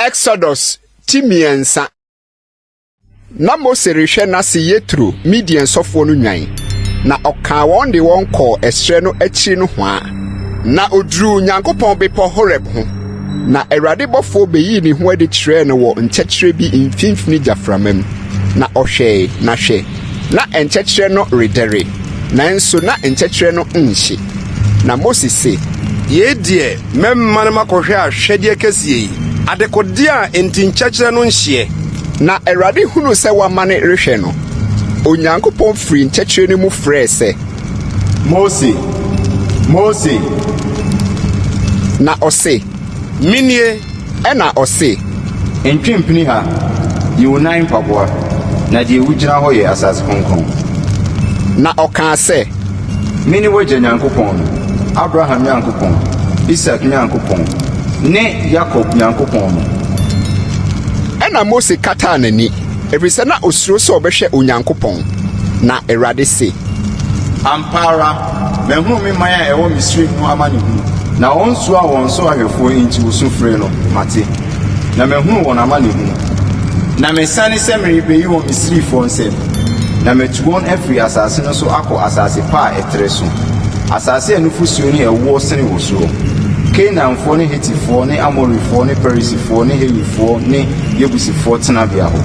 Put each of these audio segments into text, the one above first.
Exodus ti mmiɛnsa na mose rehwɛ n'ase yetro midian sɔfoɔ no nwan na ɔkaa wɔn de wɔn kɔɔ ɛserɛ no akyiri no hwaa na oduruu nyankopɔn bepɔ horeb ho na awurade bɔfoɔ bɛyii ne ho adi kyerɛɛ no wɔ nkyɛkyerɛ bi mfimfini gyaframa mu Na ɔhwɛe, na hwɛ! na nkyɛkyerɛ no redɛre, nanso na nkyɛkyerɛ no nhye. Na Mose se. Yei deɛ mɛma no makɔhwɛ ahwɛdeɛ kɛseɛ yi, adekodeɛ a enti nkyɛkyerɛ no nhyeɛ. Na Awurade hunuu sɛ wamane rehwɛ no, Onyankopɔn firii nkyɛkyerɛ no mu frɛɛ sɛ. Mose! Mose! Na ɔse. Menie, ɛna ɔse. Ntwe mpini ha, yi wo nan mpaboa, na deɛ wogyina hɔ yɛ asase kronkron. Na ɔkaa sɛ. Mene w'agya Nyankopɔn no, Abraham Nyankopɔn, Isak Nyankopɔn, ne Yakob Nyankopɔn no. Ɛna Mose kataa n'ani, ɛfiri sɛ na ɔsuro sɛ ɔbɛhwɛ Onyankopɔn. Na Awurade se. Ampa ara, Mahunu me man a ɛwɔ Misraim no amanehunu. Na wɔn nsuo a wɔn so ahwɛfoɔ enti wɔsu frɛ no, mate, na mahunu wɔn amanehunu. Na masiane sɛ merebɛyi wɔn Misrifoɔ nsam, na matu wɔn afiri asase no so akɔ asase pa a ɛtrɛ so, asase a nufosuo ne ɛwoɔ sene wɔ soɔ, Kanaanfoɔ ne Hetifoɔ ne Amorifoɔ ne Perisifoɔ ne Hewifoɔ ne Yebusifoɔ tenabea hɔ.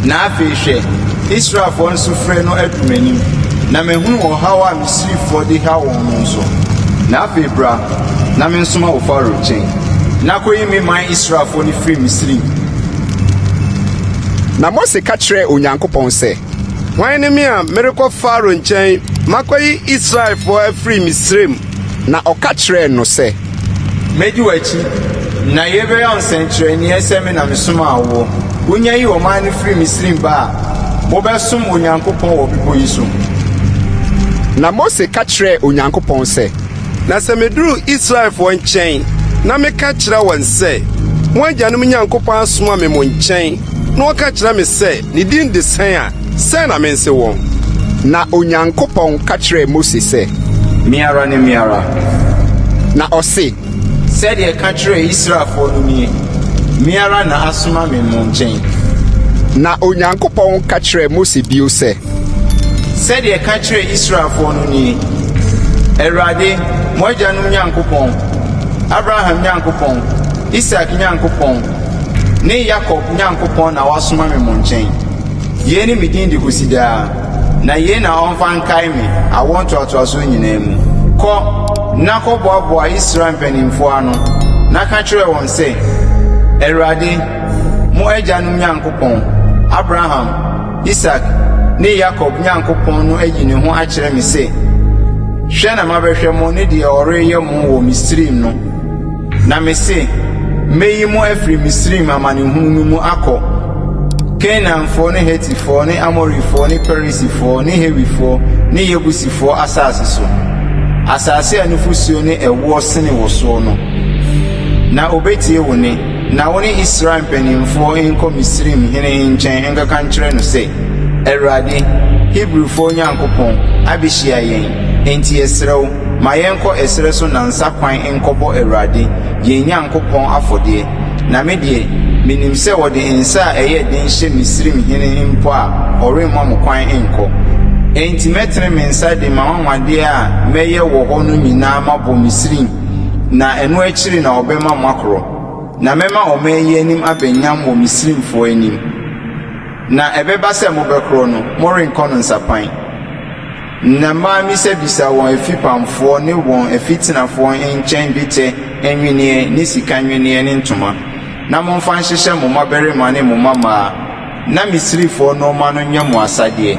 Na afei hwɛ, Israelfoɔ nsufrɛ no adu m'anim, na mahunu ɔhaw a Misrifoɔ de haw wɔn no nso. Na afei bra, na mensoma wo Farao nkyɛn, na kɔyi me man Israelfoɔ no firi Misri mu. Na Mose ka kyerɛɛ Onyankopɔn sɛ, Hwan ne me a merekɔ Farao nkyɛn makɔyi Israelfoɔ afiri Misraim? Na ɔka kyerɛɛ no sɛ. Mɛdi w'akyi, na yei bɛyɛ wo nsɛnkyerɛnneɛ sɛ me na mesomaa woɔ. Wonya yi ɔman no firi Misraim ba a, mobɛsom Onyankopɔn wɔ bepɔ yi so. Na Mose ka kyerɛɛ Onyankopɔn sɛ. Na sɛ meduru Israelfoɔ nkyɛn na meka kyerɛ wɔn sɛ, 'Mo agyanom Nyankopɔn asoma me mo nkyɛn, na ɔka kyerɛ me sɛ ne din de sɛn a, Sɛ na mense wɔn. Na Onyankopɔn ka kyerɛɛ Mose sɛ. Me ara ne me ara. Na ɔse. Sɛdeɛ ɛka kyerɛɛ Israelfoɔ no nie, Me ara na asoma me mo nkyɛn. Na Onyankopɔn ka kyerɛɛ Mose bio sɛ. Sɛdeɛ ɛka kyerɛɛ Israelfoɔ no nie, Awurade, mo agyanom Nyankopɔn, Abraham Nyankopɔn, Isak Nyankopɔn, ne Yakob Nyankopɔn na wasoma me mo nkyɛn. Yei ne me din de kɔsi daa, na yei na wɔmfa nkae me awoɔ ntoatoasoɔ nyinaa mu. Kɔ na kɔboaboa Israel mpanimfoɔ ano, na ka kyerɛ wɔn sɛ, 'Awurade, mo agyanom Nyankopɔn, Abraham, Isak, ne Yakob Nyankopɔn no ayi ne ho akyerɛ me sɛ, Hwɛ na mabɛhwɛ mo ne deɛ ɔreyɛ mo wɔ Misraim no. Na mese, Mɛyi mo afiri Misraim amanehunu no mu akɔ Kanaanfoɔ ne Hetifoɔ ne Amorifoɔ ne Perisifoɔ ne Hiwifoɔ ne Yebusifoɔ asase so, asase a nufosuo ne ɛwoɔ sene wɔ soɔ no, na ɔbɛtie wo nne. Na wo ne Israel mpanimfoɔ nkɔ Misraim hene nkyɛn nkɔka nkyerɛ no sɛ, 'Awurade, Hebrifoɔ Nyankopɔn, abɛhyia yɛn, enti yɛsrɛ wo, Ma yɛnkɔ ɛserɛ so nansa kwan nkɔbɔ Awurade, yɛn Nyankopɔn afɔdeɛ. Na me deɛ, menim sɛ ɔde nsa a ɛyɛ den hyɛ Misraim hene mpo a, ɔremma mo kwan nkɔ. Enti mɛtene me nsa de m'anwanwadeɛ a mɛyɛ wɔ hɔ no nyinaa mabɔ Misraim, na ɛno akyiri na ɔbɛma moakorɔ. Na mɛma ɔman yi anim abɛ nyam wɔ Misraimfoɔ anim. Na ɛbɛba sɛ mobɛkorɔ no, morenkɔ no nsapan. Ná mamisabisa wɔn afipamfoɔ ne wɔn afitenafoɔ nkyɛn dwetɛ nnwenneɛ ne sika nnwenneɛ ne ntoma, na momfa nhyehyɛ mo mmabarima ne mo mmammaa, na Misrifoɔ nnoɔma no nyɛ mo asadeɛ.